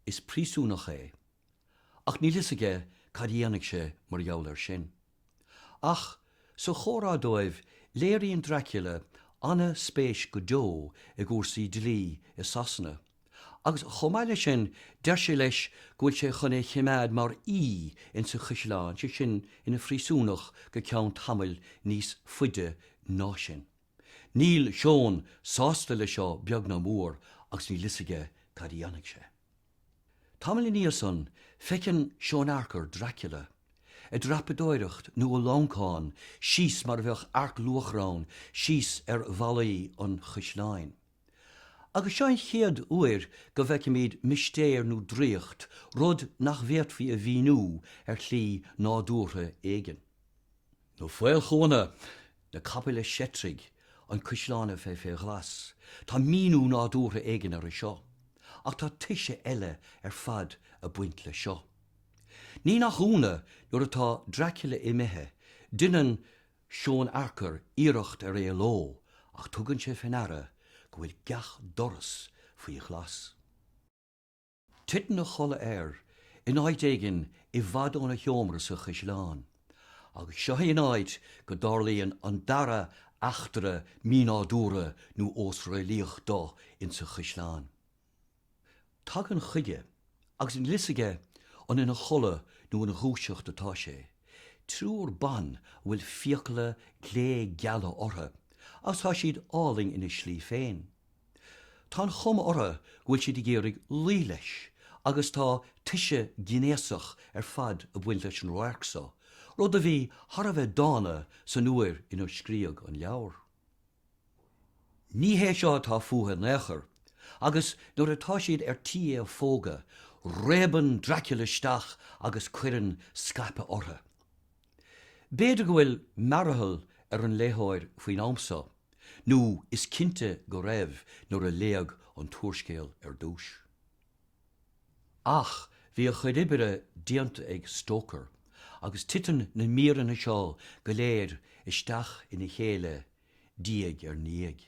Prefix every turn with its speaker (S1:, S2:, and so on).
S1: Is príosúnach é. Ach níl fhios aige cad a dhéanfaidh sé mar gheall ar sin. Ach, sa chomhrá dóibh, léiríonn Dracula an-spéis go deo i gcúrsaí dlí i Sasana. Agus chomh maith leis sin, deir sé leis go bhfuil sé chun é chimeád mar aoí ins an chuisleán, sé sin, ina phríosúnach go ceann tamaill níos faide ná sin. Níl Seon sásta le seo beag ná mór agus níl fhios aige cad a dhéanfaidh sé. Tamall ina dhiaidh san, feiceann Seon Harker Dracula ag dreapadóireacht nó ag lámhacán síos mar a bheadh earc luachra ann síos ar bhallaí an chuisleáin. Agus seo an chéad uair go bhfeicimid mistéir nó draíocht, rud nach bhféadfaí a mhíniú ar shlí nádúrtha éigin. Nó faolchúnna! Na capaill ag seitrigh an cuisleán a bheith fé ghlas, tá míniú nádúrtha éigin orthu seo, ach tá toise eile ar fad ag baint le seo. Ní nach ionadh, nuair atá Dracula imithe, deineann Seon Harker iarracht ar éaló ach tugann sé fé ndeara go bhfuil gach doras faoi ghlas. Titeann a chodladh air in áit éigin i bhfad óna sheomra sa chaisleán agus seo í an áit go dtarlaíonn an dara eachtra mínádúrtha nó osréalaíoch dó insa chaisleán. Tagann chuige, agus gan fhios aige an ina chodladh nó ina dhúiseacht atá sé, triúr ban a bhfuil fiacla glé-geala orthu agus tá siad álainn ina slí féin. Tá an chuma orthu go bhfuil siad ag iarraidh luí leis agus tá toise gnéasach ar fad ag baint leis an radharc so, rud a bhí thar a bheith dána san uair inar scríodh an leabhar. Ní hé seo atá fúthu in aon chor, agus nuair atá siad ar tí é a phógadh, réabann Dracula isteach agus cuireann scaipeadh orthu. B'fhéidir go bhfuil mearathal ar an léitheoir faoin am so, nó is cinnte go raibh nuair a léadh an t-úrscéal ar dtúis. Ach bhí a chuid oibre déanta ag Stoker, agus titeann na míreanna seo go léir isteach ina chéile diaidh ar ndiaidh.